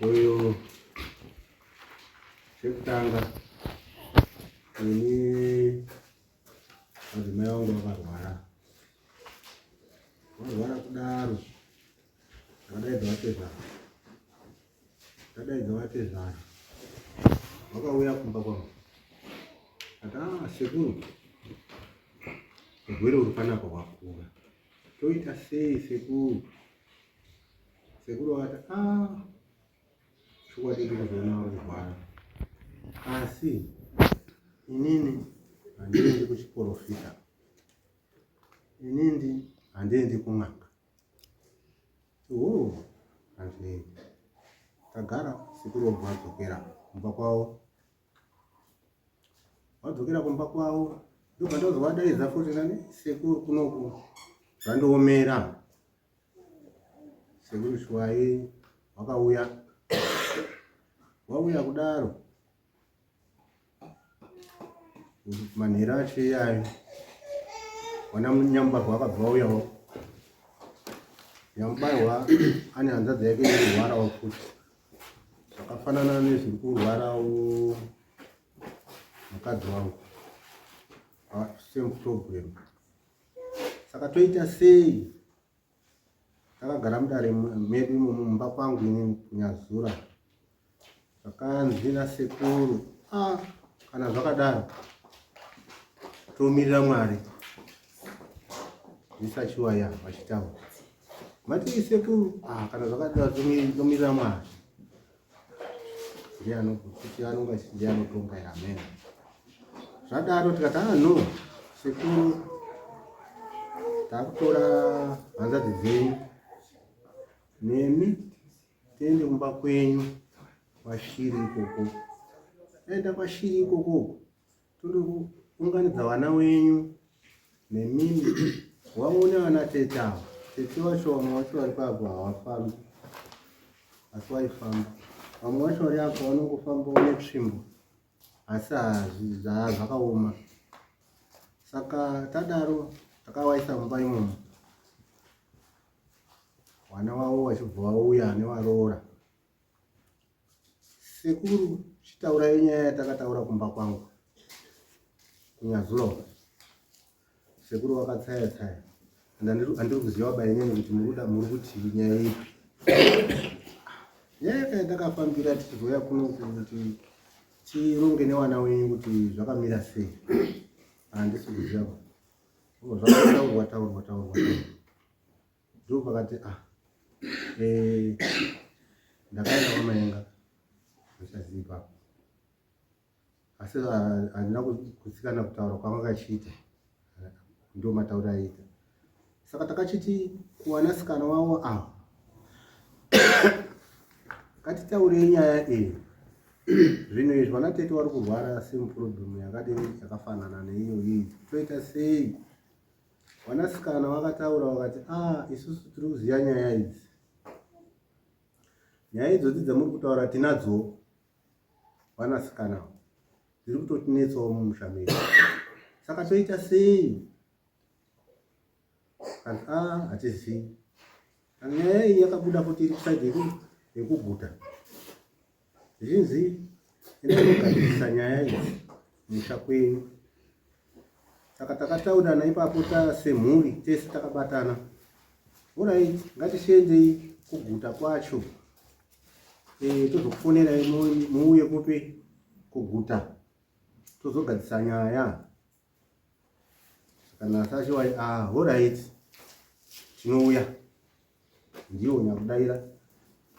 uyu chekutanga ini madzimai vangu vakarwara varwara kudaro ndakadaidza vatezvara ndakadaidza vatezvara vakauya kumba kwangu ati a ah, sekuru urwere uri panapa wakura Toita sei sekuru? Sekuru vakati ah, chokwadi ndiri kuzoona vari kurwara, asi inini handiendi kuchiporofita, inini handiendi kun'anga. Oh, hazvinei. Tagara sekuru vobva vadzokera kumba kwavo. vadzokera kumba kwavo ndobva ndozovadaidza futi nani sekuru kunoku zvandiomera sekuru shwai wakauya wauya kudaro manhero acho iyayo wana nyambarwa akabva wauyawo nyambarwa ane hanzadzi yake irwarawo futi zvakafanana nezviri kurwarawo mukadzi wangu same problem saka toita sei takagara mudare medu imomo mumba kwangu ini kunyazura zvakanzi nasekuru ah, kana zvakadaro tomirira mwari zvisachiwaya vachitaura Mati sekuru ah kana zvakadaro tomirira Mwari. Ndiye anokuti anonga ndiye anotonga amen. Zvadaro tikatanga no sekuru takutora hanzvadzi dzenyu nemi tiende kumba kwenyu kwashiri ikoko aenda kwashiri ikoko Tode kuunganidza vana wenyu nemimi waone vana tete ava. Tete wacho vamwe wacho vari kwavo havafambi asi waifamba. Vamwe wacho vari apa vanongofamba une tsvimbo asi zvakaoma. Saka tadaro takawaisa mumba imomo vana wavo vachibva vauya nevaroora Sekuru chitaurai nyaya yatakataura kumba kwangu kunyazuloka sekuru wakatsaya tsaya andiri kuziva bainini kuti muruda muri kuti nyaya ipi nyaya kai ndakafambira tichizoya kuno kuti tironge newana wenyu kuti zvakamira sei handisi kuziva zvakataurwa taurwa taurwa Ndo pakati ah eh ndakaenda kwamaenga zvichaziva ipapo asi ah, handina kutsikana kutaura kwanga kachiita ndo mataura aita saka takachiti kuwanasikana wavo ava ngatitaure nyaya iyi zvinhu izvi vanatete vari kurwara same problem yakadini yakafanana neiyo iyi toita sei Vanasikana vakataura vakati, ah, isusu tiri kuziva nyaya idzi. Nyaya idzodzi dzamuri kutaura tinadzo vanasikana dziri kutotinetsawo mumusha medu. Saka toita sei? Kanti, ah, hatizivi. Nyaya iyi yakabuda kuti iri kusaidi yekuguta. Zhinzi endai mogadzirisa nyaya idzi musha kwenyu. Saka takataurirana ipapo semhuri tese takabatana, orai ngatichiendei kuguta kwacho eh, tozokufonerai muuye kupi kuguta tozogadzisa nyaya kana sacho wai ah horait tinouya ndiwo nyakudaira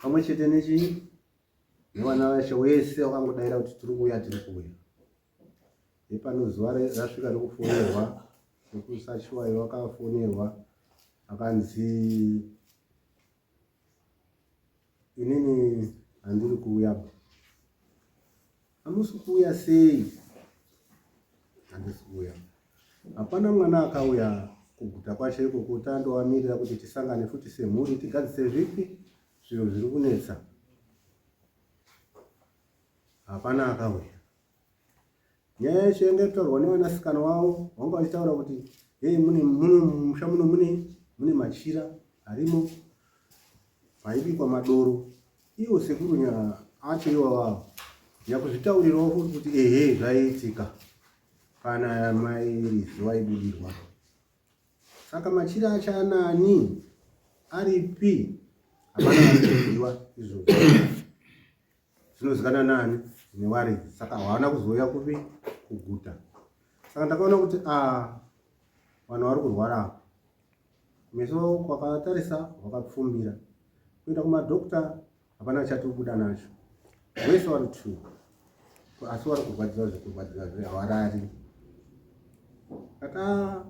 pamwe chete nechii nevana vashe wese wakangodaira kuti tiri kuuya tiri kuuya ipano zuva rasvika rekufonerwa nekusashiwayo wakafonerwa akanzi inini handiri kuuya ba hamusi kuuya sei handisi kuuya hapana mwana akauya kuguta kwacho ikoko tandovamirira kuti tisangane futi semhuri tigadzise zvipi zviro zviri kunetsa hapana akauya nyaya yacho yanga itaurwa nevanasikana wavo vanga vachitaura kuti hei mune muno musha muno mune mune machira arimo maibikwa madoro ivo sekuru nya acho ivavavo nyakuzvitaurirawo futi kuti ehe zvaiitika kana mai rizi vaibudirwa saka machira acho anani aripi hapana vaiziva izvozvo zvinozikana nani newaridzi saka hawana kuzouya kupi kuguta saka ndakaona kuti a ah, vanhu vari kurwara apa meso kwakatarisa wakapfumbira kuenda kumadokta hapana chatobuda nacho wese wari two asi wari kurwadziwa zvekurwadziwa zve hawarari kata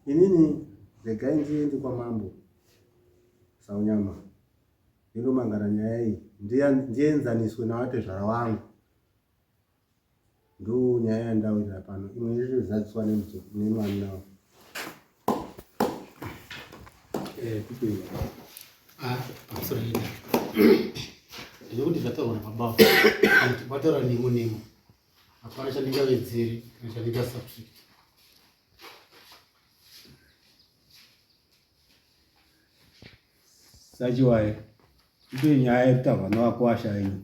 inini regai ndiende kwamambo saunyama Ndonomangara nyaya iyi ndienzaniswe navatezvara vangu ndo nyaya yandawirira pano imwe irikuzadziswa nemwana wavo eh, ah, ndinokuti zvataurwa nababa vataura nemo nemo hapana chandingavedzere kana chandingasubtract sachiwaye itoye nyaya yekutaurwa nevakwasha ino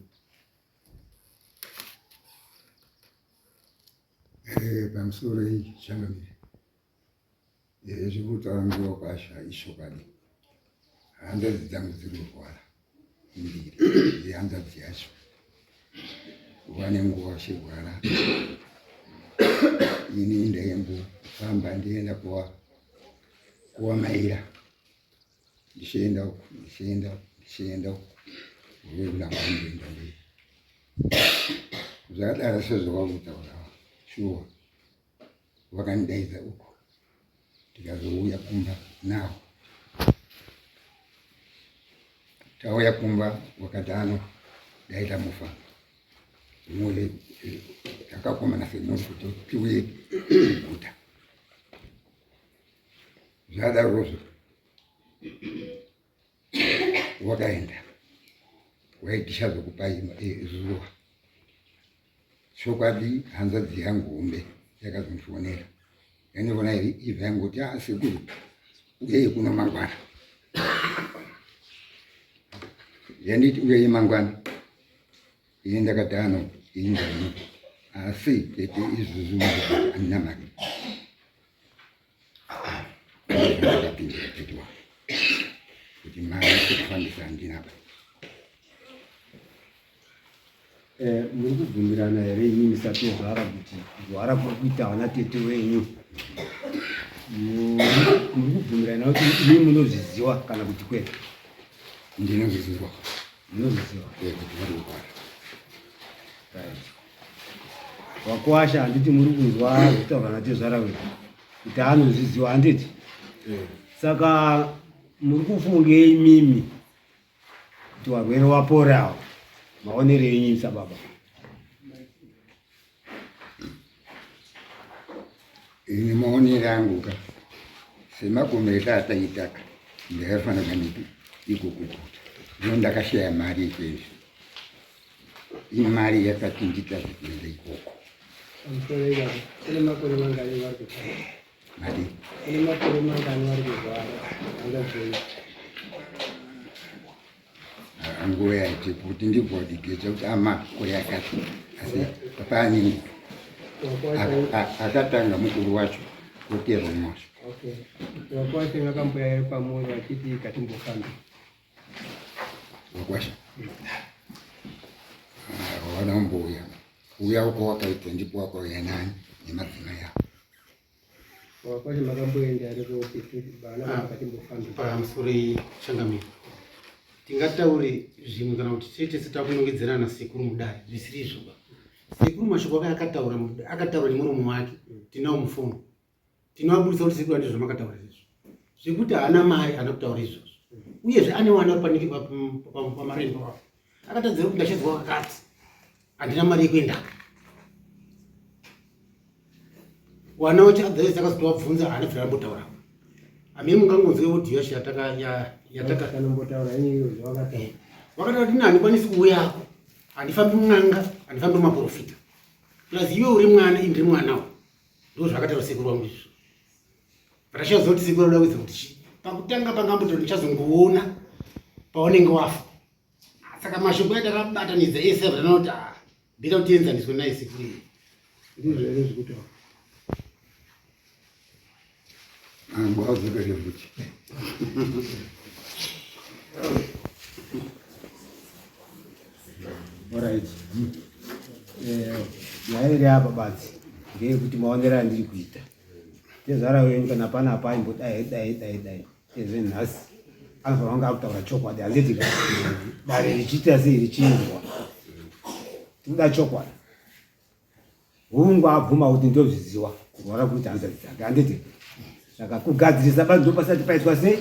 eh, pamusoro iyi changamire eh, zvekutaura nevakwasha ishokadi handazi dzangu dziri kurwara mbiri yehanzvadzi yacho vane nguva vachirwara ini ndaingofamba ndienda kuva kuvamaira ndichienda uku ndichienda uku ndichienda uku uvekulamba ndienda mberi zvakadaro sezvavakutaura shuwa vakandidaidza uko tikazouya kumba nawo tauya kumba wakati ano dai tamufa muli takakomana semunhu kuti tiuye kuguta zvadarozvo wakaenda waitisha zvekupa eh, zuva chokwadi hanzvadzi yangu hombe yakazondifonera yandiona iri ibva yangoti a ah, sekuru uyei kuno mangwana yanditi uyei mangwana ini ndakadano ini ndani asi tete izvozvo andina mari Eh, muri kubvumirana here ini misatozvara kuti kurwara kuri kuita vana tete wenyu muri kubvumirana kuti ini munozviziva kana kuti kwete ndinozviziva munozviziva kuti vari kurwara wakwasha handiti muri kunzwa zvitaurwa natezvara wedu kuti anozviziwa handiti eh. saka muri kufungei mimi kuti varwere waporawo maonero enyu sababa ini maonero angu ka semagomero ataitaka ndakafanira kaniti ikukukuta ndino ndakashaya mari ikwenzi imari yakachinjika zvekuenda ikoko nguva yaite kuti ndibvodigeja kuti amakore akati asi apaanini akatanga mukuru wacho kuterwa mwazvo okay. Wakwashe ngakambuya yari pamoyo achiti katimbofambi Wakwasha. Ah, wana mbuya. Uya uko wakaitwa ndipo wako yanani nemadzina yao. Wakwasha makamboenda ari kuti bana ah, vakatimbofamba. Pamusuri changamira. Tingataure zvimwe kana kuti tete sitakunongedzerana sekuru mudare zvisiri izvo. Sekuru mashoko akataura akataura nemuromo wake tinawo mufono. tinoaburitsa kuti sekuru ane zvamakataura izvozvo zvekuti haana mari haana kutaura izvozvo uyezve ane wana panike pamarembo apo akatadzira kuti ndashedzwa kakati handina mari yekuendaka wana wacho adhaisi akazoti wabvunza haana bvira ambotaura amene mungangonzwe audio yacho yataka yatakanombotaura iyoyo zvawakataura eh, wakataura kuti handikwanisi kuuyako handifambi mwan'anga handifambi maprofita plus iwe uri mwana indiri mwanawo Ndoo zvakataura sekuru wangu izvo. But achazoziva kuti sekuru anoda kuita kuti chii. Pakutanga pangamboto ndichazongoona paunenge wafa. Saka mashoko aita akabatanidza ese abva anoti ah bida kuti enzaniswe naye sekuru. Ndizvo ere zvekutaura. Alright. Eh, nyaya iri apa basi ngeyekuti maonero andiri kuita tezvara wenyu kana pana apa aimbodai dai dai dai ezve nhasi anofanira kunge akutaura chokwadi handiti dare richiita sei richinzwa tinoda chokwadi hungu abvuma kuti ndozviziwa kurwara kuita hanzvadzi dzake handiti saka kugadzirisa bani ndopasati paitwa sei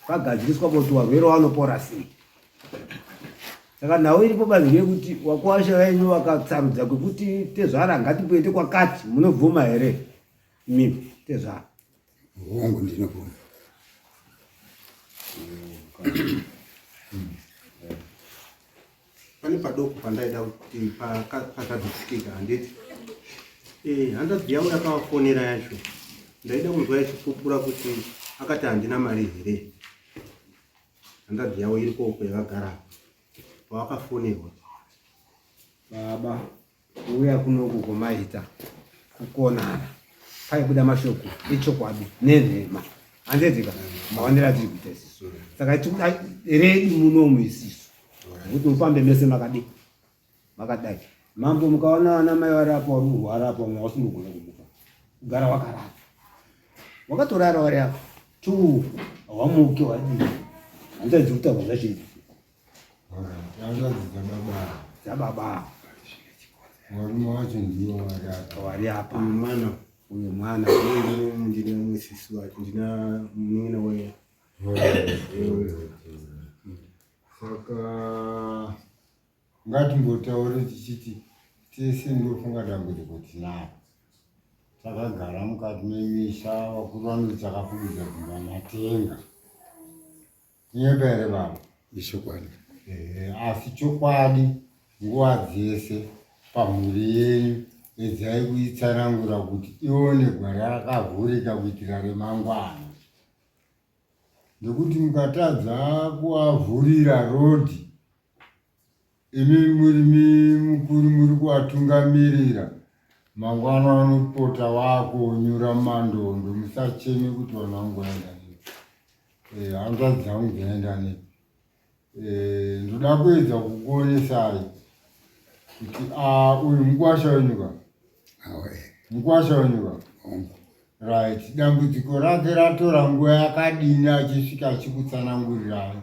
pagadziriswa kuti varwere vanopora sei saka nhau iripo bani yekuti wakuwasha venyu wakatsarudza kwekuti tezvara ngatipoite kwakati munobvuma here mimi tezvara hongu ndinobvuma pane padoko pandaida kuti pakadzitsikika handiti eh, handazi yavo yakavafonera yacho ndaida kunzwa yachipupura kuti akati handina mari here handazi yavo iri koko yakagara pawakafonerwa baba kuuya kuno kukomaita kukonana paibuda mashoko echokwadi nenhema handedzika mawanira tiri kuita isisu saka tikuda redu munomu isisu kuti mufambe mese makadi makadai mambo mukaona vana mai varapa uri murwarapa mwa usingogona kumuka kugara wakarara wakatorara wari apa tu hawamuke wadii handidzi kutagwa zvachii Hanzvadzi dzababa. Dzababa. Varume wacho ndiwo vakaka. Wari apa. Uyu mwana. Uyu mwana. Ndine mumwe sisi wake. Ndina munin'ina wake. Saka ngatimbotaure tichiti tese ndofunga dambudziko tinaro takagara mukati memisha vakuru vanoti takafukidza dzimba matenga Tinyoka here baba? Ichokwadi. Ehe, asi chokwadi nguva dzese pamhuri yenyu edzai kuitsanangura kuti ione gwara rakavhurika kuitira remangwana. Nekuti mukatadza kuavhurira rodhi Imi murimi mukuru muri kuvatungamirira mangwana vanopota vakonyura mandondo musacheme kuti vanhu vangoenda nepi eh, hanzvadzi dzangu dzaenda nepi eh, ndoda kuedza kukuonesai kuti ah, uyu mukwasha wenyuka mukwasha wenyu baba right dambudziko rake ratora nguva yakadini achisvika achikutsanangurirai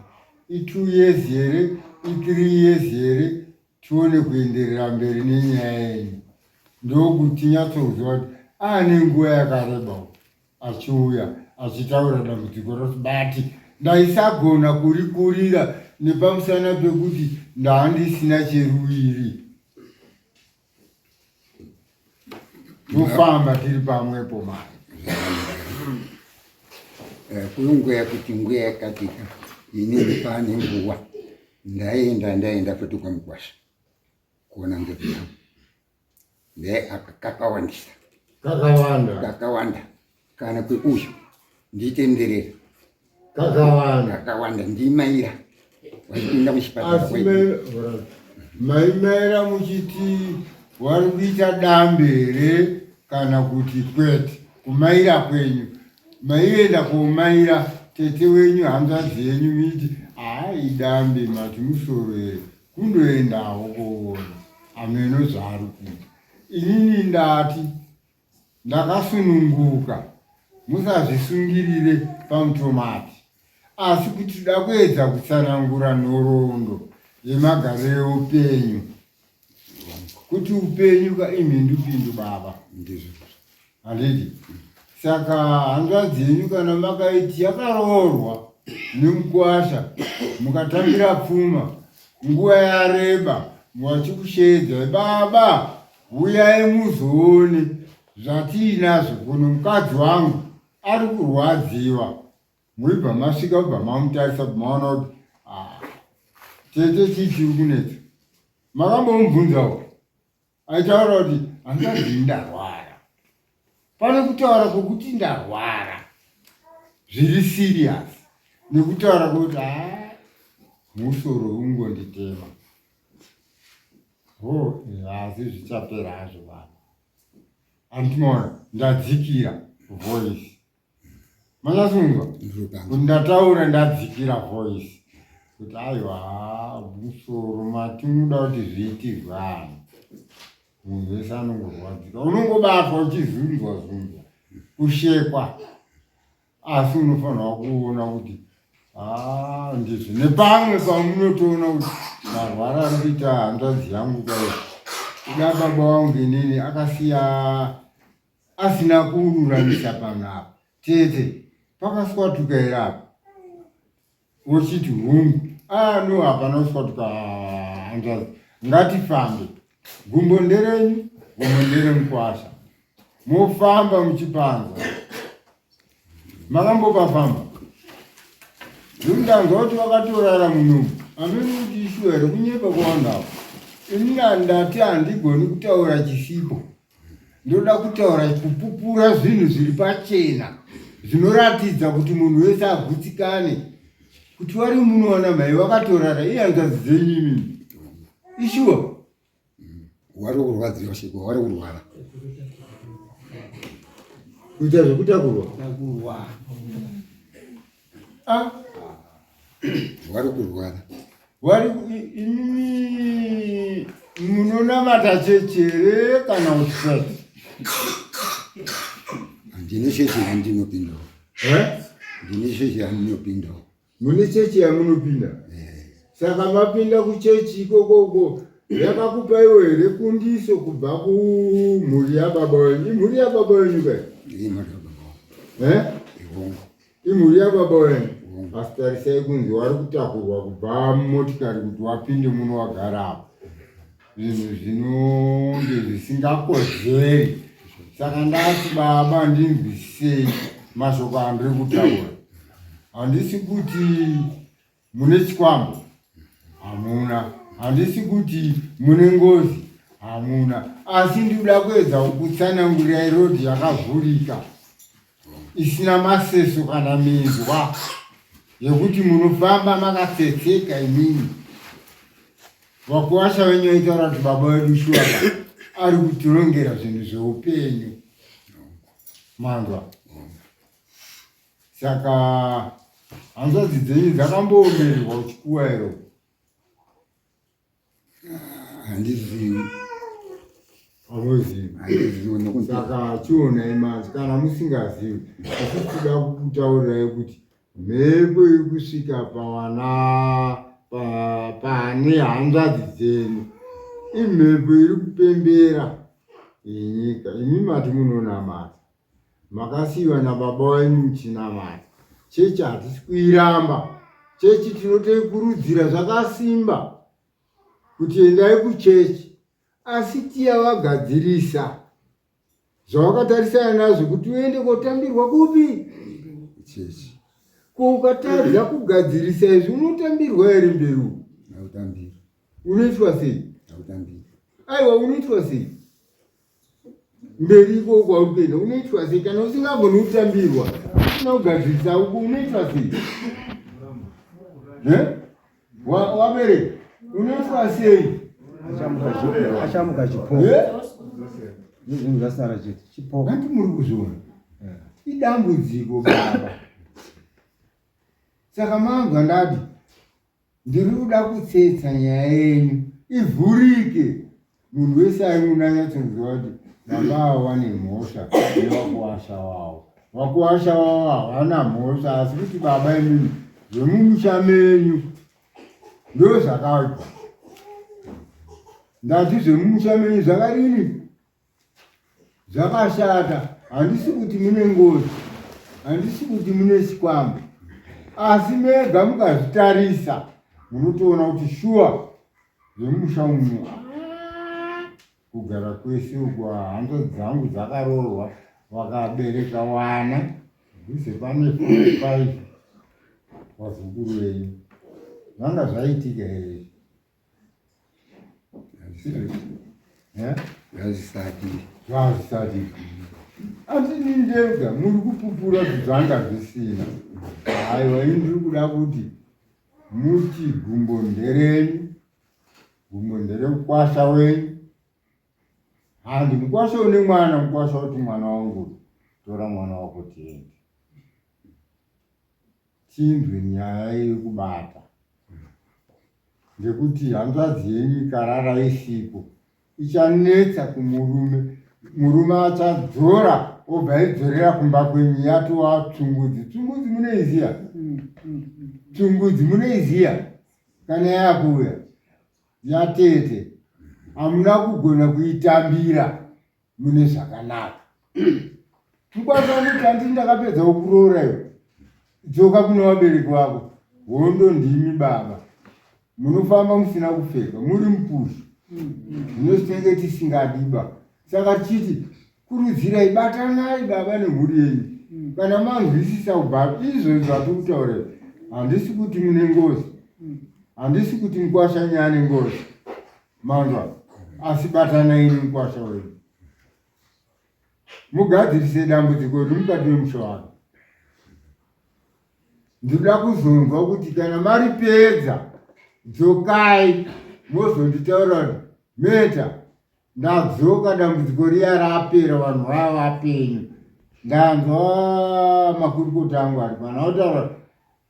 itwo years here ithree years here tione kuenderera mberi nenyaya yenyu ndokuti nyatsokuziva kuti aane nguva yakareba achiuya achitaura dambudziko rose but ndaisagona kurikurira nepamusana pekuti ndaandisina cheruviri Mufamba tiri pamwepo mari. Eh, Kuyunguya kuti nguya yakatika inini pane nguva ndaenda ndaenda futi kwamukwasha kuona ndugu yangu nde aka- kakawandisa Kakawanda. kakawanda kana kweuyu nditenderera kakawanda kakawanda ndimaira wachipinda muchipatara maimaira muchiti wari kuita dambe here kana kuti kwete kumaira kwenyu maienda komaira tete wenyu hanzvadzi yenyu miti haaidambe mati musoro here kundoendawo koona ameno zvaari kuita inini ndati Ndakasununguka, musazvisungirire pamutomati, asi kuti tida kuedza kutsanangura nhoroondo yemagariro eupenyu kuti upenyu ka imhindupindu baba handiti saka hanzvadzi yenyu kana makaiti yakaroorwa nemukwasha mukatambira pfuma nguva yareba muvachikusheedza baba Huyai muzoone zvatiinazvo kuno mukadzi wangu ari kurwadziwa muibva masvika ubva mamutarisa bmaona kuti ah, tete chii chiri kunetsa makambomubvunzawo aitaura kuti hangazi ndarwara pane kutaura kwokuti ndarwara zviri siriyasi nekutaura kwokuti a ah, musoro ungonditema Hoo hazi zvichapera hazvo vanhu. Andinoona ndadzikira voice. Manyasunzwa? Ndataura ndadzikira voice. Kuti aiwa musoro mati muda kuti zviitirwe anhu. Munhu wese anongorwadzika. Unongobatwa uchizunzwa zunzwa. Kushekwa. asi unofanirwa kuona kuti ah, ndizvo nepamwe pamunotoona kuti marwara ari kuita hanzvadzi yangu kai kuda baba wangu inini akasiya asina kururamisa pano apa tete pakaswatukaira apa Wochiti hungu. Ah no hapana uswatuka hanzvazi. Ngatifambe. Gumbo nderenyu, gumbo ndere mukwasha. Mofamba muchipanza. Makambopafamba. Zvindanzwa kuti vakatorara munomu. Amene kuti ishuwa here kunyepa kwawandawo. Ini ndati handigoni kutaura chisipo. ndoda kutaura kupupura zvinhu zviri pachena zvinoratidza kuti munhu wese agutsikane kuti wari muno wana mhai wakatorara iye anzazi dzenyu imini ishuwa mm. wari kurwadziwa shekwa wari kurwara kuita zvekutakurwa Ah. Wari kurwara. Wari ini munonamata chechi here kana kuti sei? Ndine chechi yandinopindawo. Eh? Ndine chechi yandinopindawo. Mune chechi yamunopinda? Eh. Saka mapinda kuchechi ikoko uko yakakupa iwe here kundiso kubva kumhuri yababa wenyu? Imhuri yababa wenyu kai? Imhuri yababa. Eh? Ihongo. imhuri yababa wena asi tarisai kunzi wari kutakurwa kubva mumotikari kuti wapinde muno wagarapo zvinhu zvinonge zvisingakodzeri saka ndati baba ndinzwisisei mashoko andiri kutaura handisi kuti mune chikwambo hamuna handisi kuti mune ngozi hamuna asi ndikuda kuedza kukutsanangurira irodhi yakavhurika isina maseso kana minzwa yekuti munofamba makatsetseka imini vakuwasha venyu vaitaura kuti baba vedu shuwaka ari kutirongera zvinhu zveupenyu manzwa saka hanzvadzi dzenyu dzakamboomererwa uchikuwa ero handizivi saka chionai manje kana musingazivi asi tida kutaurirai kuti mhepo iri kusvika pavana pane hanzvadzi dzenyu imhepo iri kupembera yenyika imi mati munonamata makasiiwa nababa wenyu muchinamata chechi hatisi kuiramba chechi tinotoikurudzira zvakasimba kuti endai kuchechi asi tiya vagadzirisa zvawakatarisana nazvo kuti uende kotambirwa kupi chechi ko ukatadza kugadzirisa izvi unotambirwa here mberi uku unoitwa sei aiwa unoitwa sei mberi iko kwauri kuenda unoitwa sei kana usingagoni kutambirwa usina kugadzirisa uku unoitwa sei wabereka unoitwa sei achamuka chipo zvinhu zvasara chete chipo vanti muri kuzviona idambudziko baba saka manzwa ndadi Ndiri kuda kutsetsa nyaya yenyu ivhurike, munhu wese aimuna anyatsonziva kuti baba avo vane mhosva nevakuwasha wavo. Vakuwasha wavo havana mhosva, asi kuti baba imimi zvemumusha menyu ndo zvakabva. Ndati zvemumusha menyu zvakadini? Zvakashata, handisi kuti mune ngozi, handisi kuti mune chikwambo, asi mega mukazvitarisa munotoona kuti shuwa zvemumusha umu kugara kwese uku hanzo dzangu dzakaroorwa vakabereka wana dhuze pane faive wazukuru wenyu zvanga zvaitika here Yazvisati. Yazvisati. Asi nindega muri kupupura zvanga zvisina. Aiwa ini ndiri kuda kuti muti gumbo nderenyu. Gumbo nderemukwasha wenyu. Handi mukwasha une mwana mukwasha kuti mwana wangu tora mwana wako tiende. tinzwe nyaya iri kubata ngekuti hanzvadzi yenyu ikarara isipo ichanetsa kumurume murume achadzora obva aidzorera kumba kwenyu yatova tsungudzi tsungudzi munoiziva tsungudzi munoiziva kana yakuuya yatete hamuna kugona kuitambira mune zvakanaka mukwanisa kuti andii ndakapedza kukuroora iwe dzoka kune vabereki vako hondo ndimi baba munofamba musina kupfeka muri mupushi zvinositenge tisingadiba saka tichiti kurudzirai batanai baba nemhuri yenyu kana manzwisisa kubva izvo zvatiri kutaura handisi kuti mune ngozi handisi kuti mukwashanyane ngozi Manzwa asi batana iri mukwasha wenyu mugadzirise dambudziko riri mukati memusha wako ndinoda kuzonzwa kuti kana mari pedza dzokai mozonditaura meta ndadzoka dambudziko riya rapera vanhu vaya vapenyu ndanzwa makurukota angu ari pana otaura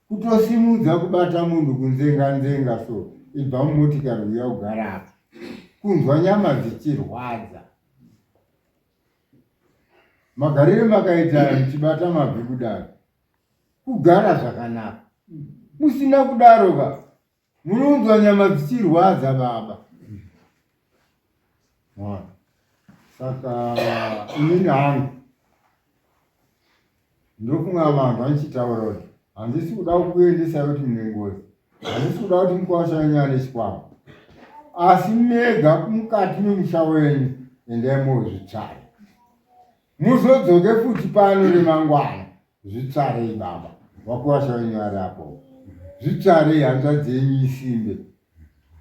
Kutosimudza kubata munhu kunzenga nzenga so ibva mumotikari uya ugara apa. Kunzwa nyama dzichirwadza. Magarire makaita muchibata mabvi kudaro. Kugara zvakanaka. Musina kudaro ka Munonzwa nyama dzichirwadza baba. Mwana. Saka inini hangu ndofunga vanhu vanichitaura kuti handisi kuda kukuendesa kuti mune ngozi, handisi kuda kuti mukwasha wenyu ane chikwama, asi mega mukati memusha wenyu endai mozvitsvara, muzodzoke futi pano remangwana Zvitsvarei baba vakwasha venyu vari apo. Zvitsvarei hanzvadzi yenyu isimbe.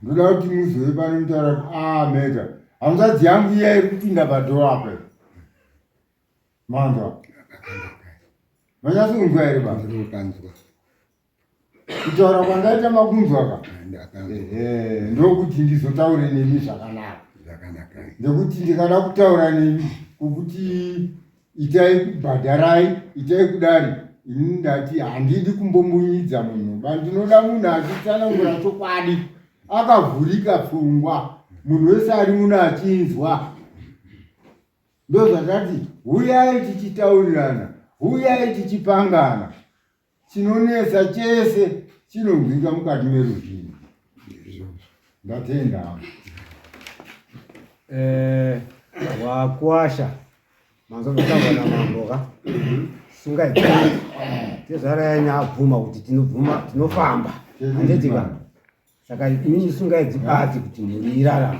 Ndoda kuti muzove pano mutaura kuti ah mega hanzvadzi yangu iya iri kupinda padhoo apa. Manzwa. Manyaso kunzwa here baba? Ndinokanzwa. kutaura kwandaita makunzwa ka ndokuti ndizotaure nemi zvakanaka nekuti ndikada kutaura nemi kukuti itai kubhadharai itai kudari ini ndati handidi kumbomunyidza munhu ba ndinoda munhu achitsanangura chokwadi akavhurika pfungwa munhu wese ari muno achinzwa ndozvatati huyai tichitaurirana huyai tichipangana chinonetsa chese chinonzwika mukati meruzhinji ndatenda eh, wakwasha manzovitaura namamboka sungaitii tezvara yanya abvuma kuti tinobvuma tinofamba handitika saka inini sungaidzibati kuti mhuri irarama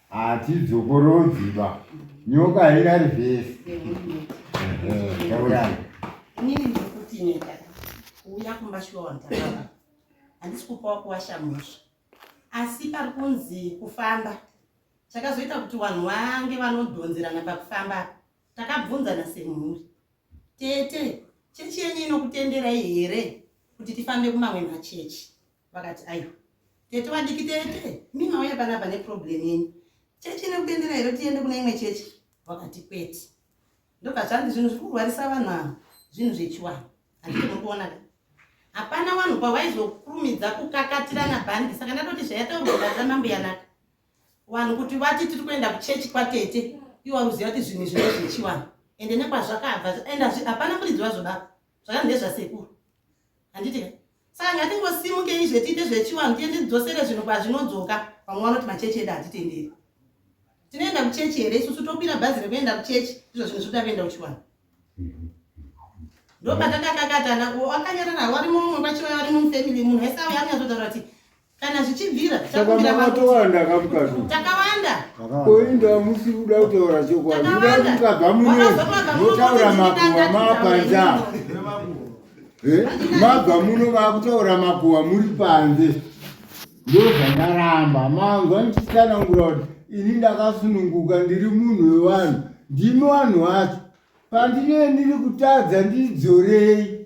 hatidzokorodzi ba nyoka haingari vhesi taurani inini ndiri kuti nyika kuuya kumba shuwa wandakaa handisi kupawo kuwasha musha asi pari kunzi kufamba chakazoita kuti vanhu vange vanodhonzerana pakufamba takabvunzana semhuri tete chechi yenyu inokutenderai here kuti tifambe kumamwe machechi vakati aiwa tete vadiki tete mi mauya panapa neproblem yenyu chechi ine kutendera here tiende kune imwe chechi vakati kwete ndobva zvanzi zvinhu zviri kurwarisa vanhu ava zvinhu zvechiwani handiti muri kuona ka hapana vanhu pavaizokurumidza kukakatirana bhandi saka ndatoti zvayataugaaza mambo yanaka vanhu kuti vati tiri kuenda kuchechi kwatete iwo aruziva kuti zvinhu zvine zvechiwani ende nekwazvakabva and hapana muridzi wazvo baba zvakanzi ndezvasekuru handiti ka Saka ngatingosimuke izve tiite zvechivanhu tiende tidzosere zvinhu kwazvinodzoka. Vamwe vanoti machechi edu hatitenderi. Tinoenda kuchechi here isusu tokwira bhazi rekuenda kuchechi ndizvo zvinhu zvekuda kuenda kuchivanhu. Ndopatakakakatana wakanyarara wari mumwe kwachiva wari mumufamily munhu wese auya anyazotaura kuti kana zvichibvira takabira matowanda kamukati takawanda koinda musi kuda kutaura chokwadi uda kukabva muno votaura makuwa mapanza eh? mabva muno vakutaura makuwa muri panze ndozvandaramba manzwa ndichisanangura kuti ini ndakasununguka ndiri munhu wevanhu ndimi vanhu vacho pandinee ndiri kutadza ndidzorei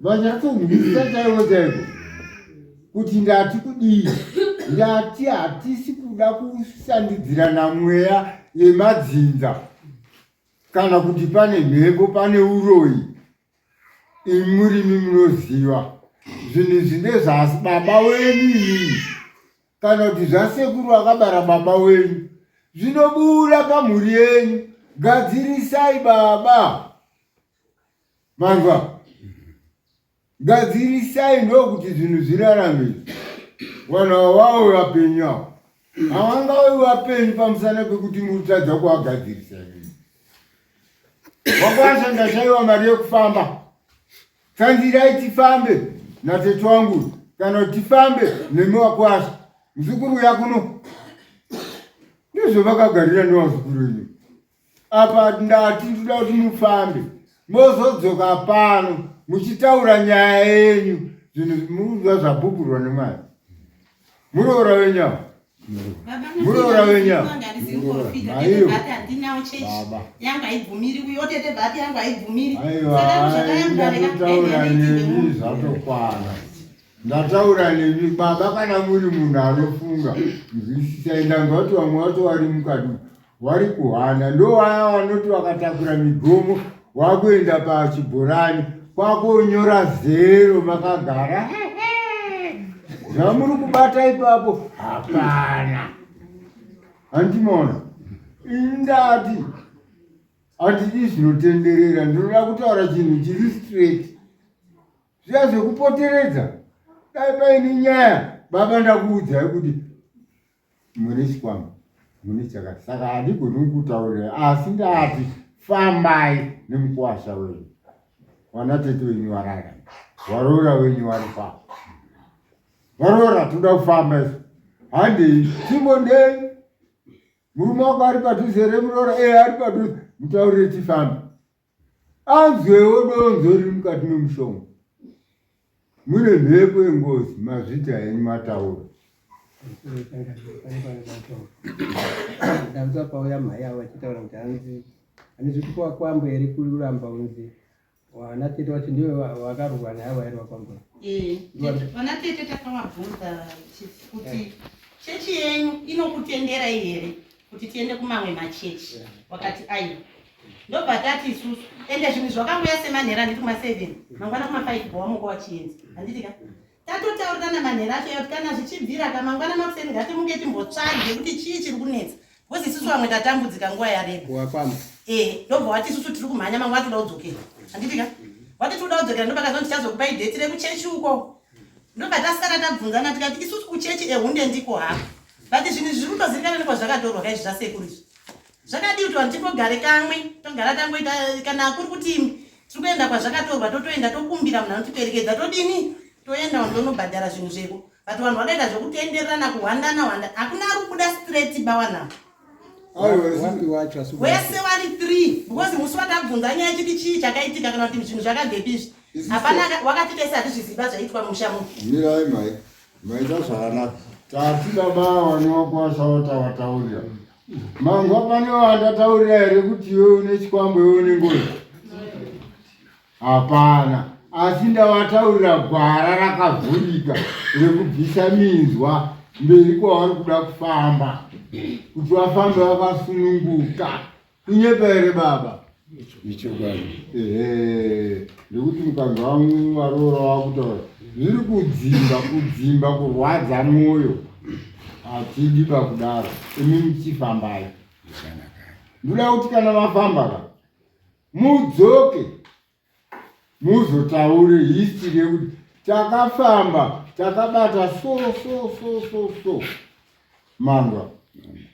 vanyatsonzwisisa chaivo chaivo kuti ndati kudii ndati hatisi kuda kusandidzira namweya yemadzinza kana kuti pane mhepo pane uroyi imurimi munoziva zvinhu izvi ndezvasi baba wenyu iyii kana kuti zvasekuru vakabara baba wenyu zvinobuda pamhuri yenyu gadzirisai baba manzwa gadzirisai ndokuti zvinhu zvirarame vanhu ava vave vapenyu avo havangave vapenyu pamusana pekuti murutadza kuvagadzirisa vakwanisa ndashaiwa mari yekufamba tsanzirai tifambe natete wangu kana kuti tifambe nemi wakwasha muzukuru uya kuno ndizvo vakagarira newazukuru ini apa ndati ndoda kuti mufambe mozodzoka pano muchitaura nyaya yenyu zvinhu muruva zvapupurwa nemwana muroora wenyu ava muroora wenyu ava maiyo baba aiwandataura nemi zvatokwana ndataura nemi baba kana muri munhu anofunga nzwisisai ndanga kuti vamwe vato vari mukati vari kuhanda ndovaya vanoti vakatakura migomo wakuenda pachibhorani kwakonyora zero makagara zvamuri kubata ipapo hapana handimona indati handidi zvinotenderera ndinoda kutaura chinhu chiri straight zviya zvekupoteredza dai paine nyaya baba ndakuudzai kuti mune chikwambo mune chakati saka handigoni kukutaurira asi ndati fambai nemukuwasha wenyu wana tete wenyu warara waroora wenyu warifa varoora toda kufamba isu handei timbondei murume wako ari padhuze remuroora ee ari padhuze mutaurire tifambe anzwewo donzo riri mukati memushonga mune mhepo yengozi mazvita enyu mataura danza pauya mhai avo vachitaura kuti hanzi ane zviti kwakwambo here kuramba unzi vana tete vacho ndivo vakarurwa naye vairi vakwambo eh, vana tete takavabvunza kuti eh. chechi yenyu inokutenderai here kuti tiende kumamwe machechi wakati aiwa ndobva tati isusu ende zvinhu zvakangoya semanhera handiti kuma7 mangwana kuma5 bhowa moko wachienzi handiti ka tatotaurirana manhera acho yoti kana zvichibvira ka mangwana makuseni ngatimuke timbotsvage kuti chii chiri kunetsa bcause isusu vamwe tatambudzika nguva yareba ee eh, ndobva wati isusu tiri kumhanya mangwana toda kudzokera handiti ka wati toda kudzokera ndobakazoti chazokupa ideti rekuchechi uko ndobva tasara tabvunzana tikati isusu kuchechi ehunde ndiko hako but zvinhu zviri kutozivikanani kwazvakatorwa kaizvi zvasekuru izvi zvakadii kuti vanhu tingogare kamwe togara tangoita kana kuri kuti tiri kuenda kwazvakatorwa totoenda tokumbira munhu anotiperekedza todini toenda vanhu tonobhadhara zvinhu zveko but vanhu vakaita zvekutendererana kuhwandana hwanda hakuna ari kubuda straight bawanavo wese wari three because musi watabvunza nyaya chiti chii chakaitika kana kuti zvinhu zvakabvepi izvi hapana wakati tese hatizviziva zvaitwa mumusha muno mirai mai maita zvakanaka tatida baa wanokwasa watawataurira mangwa pane wandataurira here kuti iwe une chikwambo iwe une ngozi Hapana, asi ndavataurira gwara rakavhurika rekubvisa minzwa mberi kwavari kuda kufamba, kuti vafambe vakasununguka. Kunyepa here baba? Ichokwadi. Ehe, nekuti mukadzi wangu varoora vakutaura zviri kudzimba kudzimba kurwadza mwoyo hatidi pakudaro imi muchifambai ndoda kuti kana vafamba ka mudzoke muzotaure history yekuti takafamba takabata so so so so so manga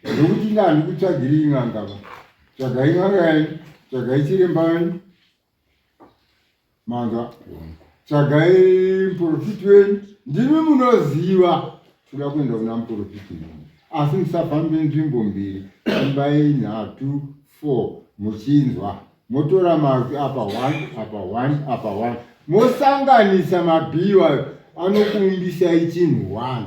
ndokuti ndandi kutsvagiri ingangava tsvagai ngangayani tsvagai chirembayani Manga tsvagai muporofiti wenyu, ndimi munoziva toda kuenda kuna muporofiti wenyu, asi musafambe nzvimbo mbiri, fambai nhatu four muchinzwa, motora mazwi apa one apa one apa one mosanganisa mabhiwa anokuumbisai chinhu one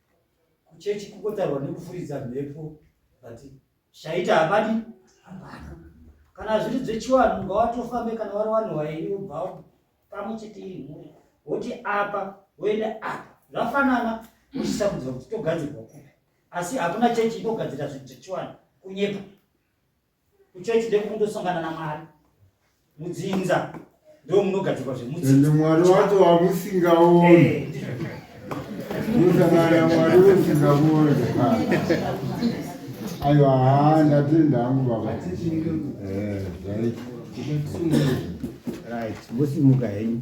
kuchechi kukotarwa nekufuridza mhepo but zvaita hapadi hapana kana zviri dzechiwanhu unga watofambe kana wari wanhu wairi ubva pamwe chete iri mhuri woti apa woenda apa zvafanana uchisamudzwa kuti togadzirwa kupi asi hakuna chechi inogadzira zvinhu zvechiwanhu kunyepa kuchechi ndekundosangana namwari mudzinza ndo munogadzirwa zvemudzinza mwari wacho wamusingaoni eh. musangana mwari usingaoni aiwa haa ndatenda hangu baba eh, right mosimuka henyu